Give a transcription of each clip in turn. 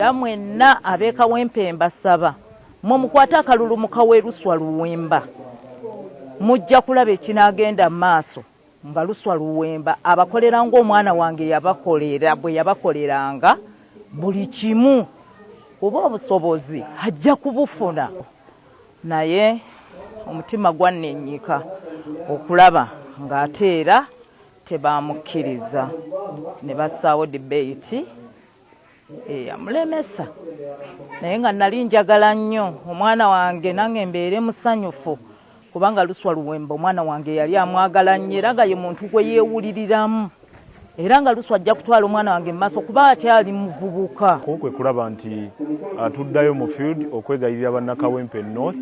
Era mwenna ab'e Kawempe mbasaba mwe mukwate akalulu mu Kaweeruswa Luwemba mujja kulaba ekinaagenda mu maaso nga luswa luwemba abakolera ng'omwana wange yabakolera bwe yabakoleranga buli kimu oba obusobozi ajja kubufuna naye omutima gwannennyika okulaba ng'ate era tebaamukkiriza ne bassaawo dibeiti eyamulemesa naye nga nali njagala nnyo omwana wange nange mbeere musanyufu kubanga luswa luwemba omwana wange yali amwagala nnyo era nga ye muntu gwe yeewuliriramu era nga luswa ajja kutwala omwana wange mu maaso kuba akyali muvubuka kwe kulaba nti uh, tuddayo mu field okwegayirira bannakawempe north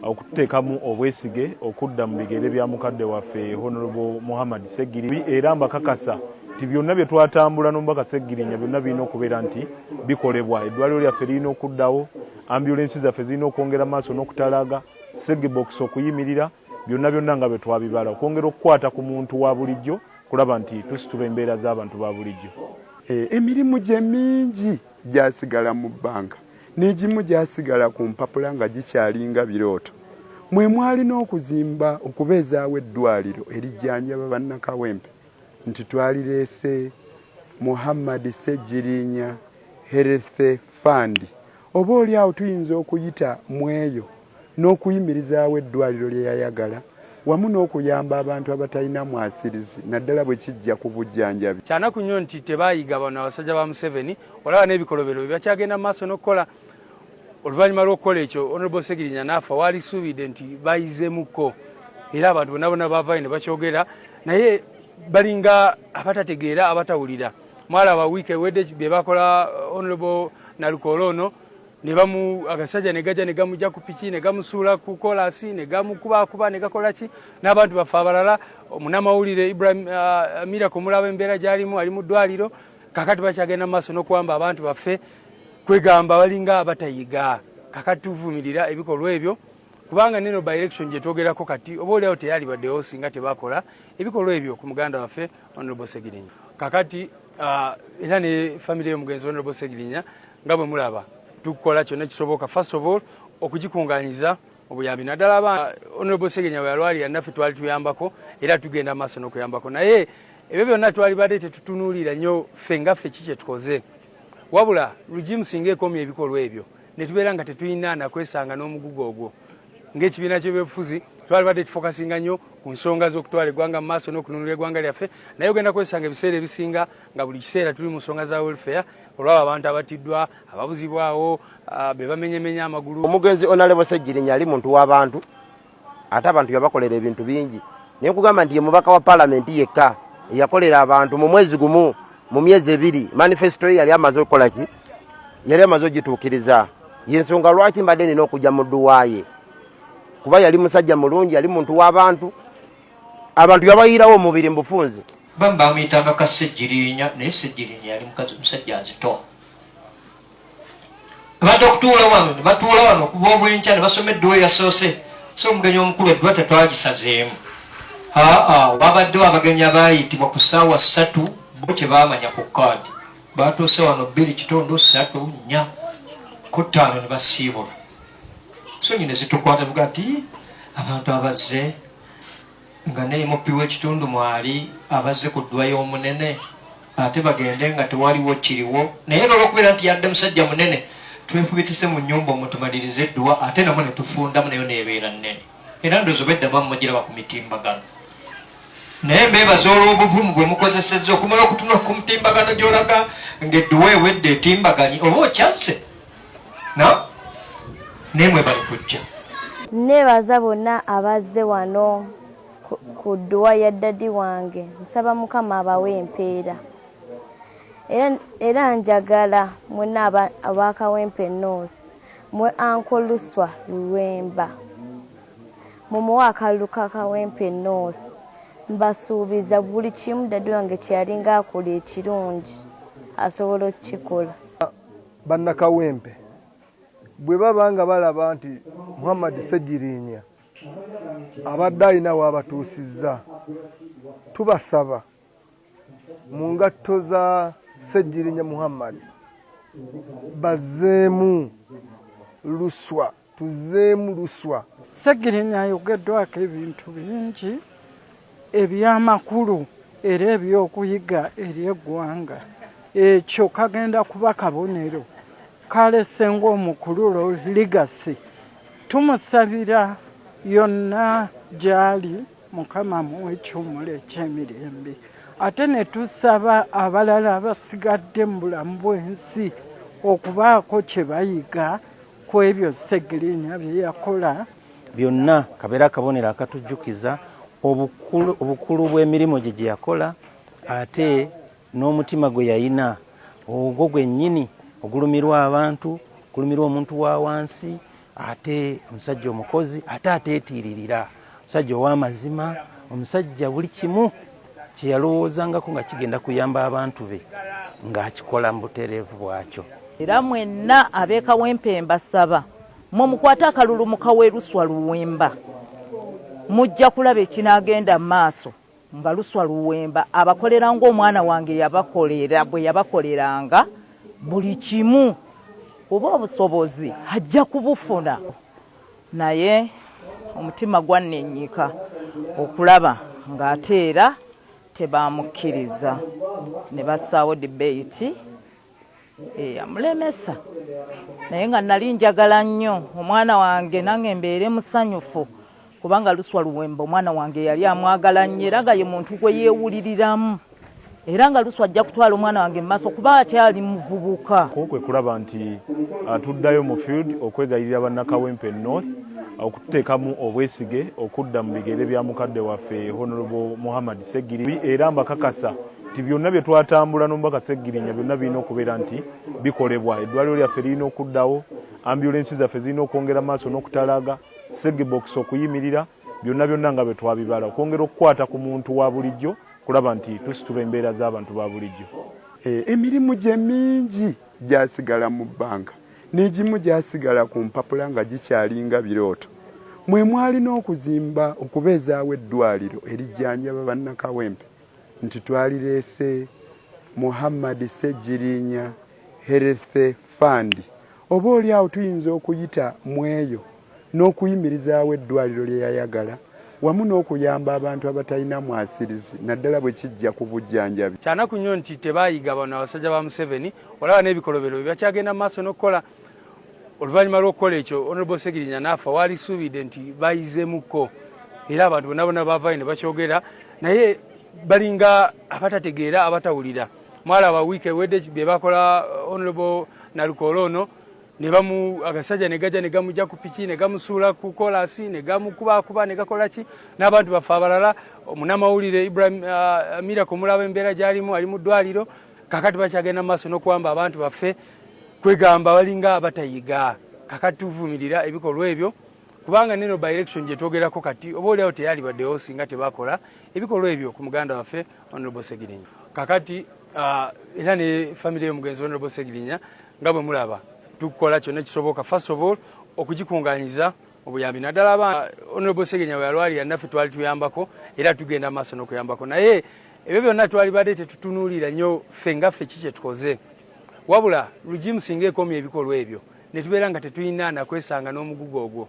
okututeekamu obwesige okudda mu bigere bya mukadde waffe honorable muhammad segiribi era mbakakasa nti byonna bye twatambula n'omubaka Ssegirinya byonna birina okubeera nti bikolebwa. Eddwaliro lyaffe lirina okuddawo, ambulensi zaffe zirina okwongera maaso n'okutalaaga, segibokisi okuyimirira, byonna byonna nga bwe twabibala, okwongera okukwata ku muntu wa bulijjo kulaba nti tusitula embeera z'abantu ba bulijjo. E, emirimu gye mingi gyasigala mu bbanga n'egimu gyasigala ku mpapula nga gikyalinga birooto mwe mwalina okuzimba okubeezaawo eddwaliro erijjanjaba bannakawempe nti twalireese Muhammad Ssegirinya Health Fund oba oli awo tuyinza okuyita mu eyo n'okuyimirizaawo eddwaliro lye yayagala wamu n'okuyamba abantu abatalina mwasirizi naddala bwe kijja ku bujjanjabi. Kyanaku nnyo nti tebaayiga bano abasajja ba Museveni olaba n'ebikolobero bye bakyagenda mu maaso n'okukola. oluvannyuma lw'okukola ekyo honorable segirinya naafa waalisuubidde nti bayizemukko era abantu bona bona baavayo ne bakyogera naye balinga abatategeera abatawulira mwalaba wiiki ewedde bye bakola uh, honorable nalukoola ono ne bamu agasajja ne gajja ne gamujja ku piki ne gamusuula ku kolasi ne gamukubakuba ne gakola ki n'abantu baffe abalala omunamawulire ibrahim uh, miraku omulaba embeera gy'alimu ali mu ddwaliro kakati bakyagenda mu maaso n'okuwamba abantu baffe kwegamba balinga abatayiga kakati tuvumirira ebikolwa ebyo kubanga neno by election gyetwogerako kati oba oliawo teyalibadewo singa tebakola ebikolwa ebyo ku muganda waffe honorable segirinya kakati uh, era ne famire yomugenzi honorable segirinya nga bwe mulaba tukukola kyonna kisoboka first of all okugikunganyiza obuyambi naddala aba honorable segirinya bweyalwalira naffe twali tuyambako era tugenda maaso n'okuyambako naye ebyo byonna twalibadde tetutunuulira nnyo ffe nga ffe ki kyetukoze wabula lugimu singa ekomya ebikolwa ebyo netubeera nga tetulina nakwesanga n'omugugu ogwo ng'ekibiina ky'ebyobufuzi twalibadde tufokasinga nnyo ku nsonga z'okutwala eggwanga mu maaso n'okununula eggwanga lyaffe naye ogenda kwesanga ebiseera ebisinga nga buli kiseera tuli mu nsonga za welfare olwabo abantu abatiddwa ababuzibwawo ah, be bamenyemenya amagulu omugenzi onalebo segirinya ali muntu w'abantu ate abantu yabakolera ebintu bingi naye kugamba nti ye mubaka wa palamenti yekka eyakolera abantu mu mwezi gumu mu myezi ebiri manifesito ye yali amaze okukola ki yali amaze ogituukiriza yensonga lwaki mbadde nina okujja mu dduwaaye kuba yali musajja mulungi yali muntu w'abantu abantu yabayiirawo omubiri mubufunzi bambi bamuyitanga ka ssegirinya naye ssegirinya yali musajja nzito Bajja okutuula wano ne batuula wano okuva obwenkya ne basoma edduwa eyasoose so omugenyi omukulu edduwa tetwagisazeemu aa wabaddewo abagenyi abaayitibwa ku ssaawa ssatu bo kye baamanya ku kaadi baatuuse wano bbiri kitundu ssatu nnya ku ttaano ne basiibula sonyi ne zitukwata buga nti abantu abazze nga naye muppi w'ekitundu mwali abazze ku ddwa y'omunene ate bagende nga tewaliwo kiriwo naye nolwokubeera nti yadde musajja munene twefubitise mu nyumba omutumaliriza edduwa ate namu netufundamu nayo nebeera nene era ndozo bedda bamumugiraba ku mitimbagano naye mbebaza olwobuvumu bwe mukozeseza okumala okutunula ku mutimbagano gyolaga ngaedduwa ewedde etimbaganye oba okyazze naye mwe bali kujja nebaza bonna abazze wano ku dduwa ya ddadi wange nsaba mukama abawe empeera era njagala mwena abakawempe north mwe ankoluswa luwemba mumuwe akalulu ka kawempe north mbasuubiza buli kimu ddadi wange kyeyalinga akola ekirungi asobola okukikola Bannakawempe bwe baba nga balaba nti Muhammad Ssegiriinya abadde alina waabatuusizza tubasaba mu ngatto za Ssegiriinya Muhammad bazzeemu luswa Tuzzeemu luswa. Ssegirinya ayogeddwako ebintu bingi eby'amakulu era eby'okuyiga eri eggwanga. Ekyo kagenda kuba kabonero kalese ng'omukululo Legacy. Tumusabira yonna gy'ali Mukama amuwe ekiwumulo eky'emirembe. Ate ne tusaba abalala abasigadde mu bulamu bw'ensi okubaako kye bayiga ku ebyo Ssegirinya bye yakola. Byonna kabeere akabonero akatujjukiza obukulu bw'emirimu gye gye yakola ate n'omutima gwe yalina ogwo gwennyini ogulumirwa abantu ogulumirwa omuntu wa wansi ate omusajja omukozi ate ateetiiririra. Omusajja ow'amazima, omusajja buli kimu kye yalowoozangako nga kigenda kuyamba abantu be ng'akikola mu butereevu bwakyo. Era mwenna ab'e Kawempe mbasaba mmwe mukwate akalulu mu Kaweeruswa Luwemba mujja kulaba ekinaagenda mu maaso. nga luswa luwemba abakolera ng'omwana wange yabakolera bwe yabakoleranga buli kimu oba obusobozi ajja kubufuna naye omutima gwannennyika okulaba ng'ate era tebaamukkiriza ne bassaawo debate. eyamulemesa eh, naye nga nali njagala nnyo omwana wange nange mbeere musanyufu kubanga luswa luwemba omwana wange yali amwagala nnyo era nga ye muntu gwe yeewuliriramu era nga luswa ajja kutwala omwana wange mu maaso kuba akyali muvubuka kwe kulaba nti ah, tuddayo mu field okwegayirira bannakawempe north ah, okututeekamu obwesige okudda mu bigere bya mukadde waffe honorable muhammad segiri era mbakakasa nti byonna bye twatambula n'omubaka Ssegirinya byonna birina okubeera nti bikolebwa. Eddwaliro lyaffe lirina okuddawo, ambulensi zaffe zirina okwongera maaso n'okutalaaga, segibokisi okuyimirira, byonna byonna nga bwe twabibala, okwongera okukwata ku muntu wa bulijjo kulaba nti tusitula embeera z'abantu ba bulijjo. E, emirimu gye mingi gyasigala mu bbanga n'egimu gyasigala ku mpapula nga gikyalinga birooto mwe mwalina okuzimba okubeezaawo eddwaliro erijjanjaba bannakawempe nti twalireese Muhammad Ssegiriinya Health Fund oba oli awo tuyinza okuyita mu eyo n'okuyimirizaawo eddwaliro lye yayagala wamu n'okuyamba abantu abatalina mwasirizi naddala bwe kijja ku bujjanjabi. Kyanaku nnyo nti tebaayiga bano abasajja ba Museveni olaba n'ebikolobero bye bakyagenda mu maaso n'okukola. oluvannyuma lw'okukola ekyo honorable segirinya naafa waalisuubidde nti bayizemukko era abantu bona bona baavayo ne bakyogera naye balinga abatategeera abatawulira mwalaba wiiki ewedde bye bakola uh, honorable nalukoola ono ne bamu agasajja ne gajja ne gamujja ku piki ne gamusuula ku kolasi ne gamukubakuba ne gakola ki n'abantu baffe abalala munamawulire ibrahim uh, miraku mulaba embeera gy'alimu ali mu ddwaliro kakati bakyagenda maaso nokuwamba abantu baffe kwegamba balinga abatayiga kakati tuvumirira ebikolwa ebyo kubanga neno by election gyetwogerako kati oba oliawo teyalibaddewo singa tebakola ebikolwa ebyo ku muganda waffe honorable segirinya kakati ah, era ne famiry yomugenzi honorable segirinya nga bwe mulaba tukukola kyonna kisoboka first of all okugikunganyiza obuyambi naddala abaana honorable segenya weyalwalira naffe twali tuyambako era tugenda maaso n'okuyambako naye ebyo byonna twali badde tetutunuulira nnyo ffe nga ffe ki kyetukoze wabula lugimu singa ekomya ebikolwa ebyo ne tubeera nga tetulina nakwesanga n'omugugu ogwo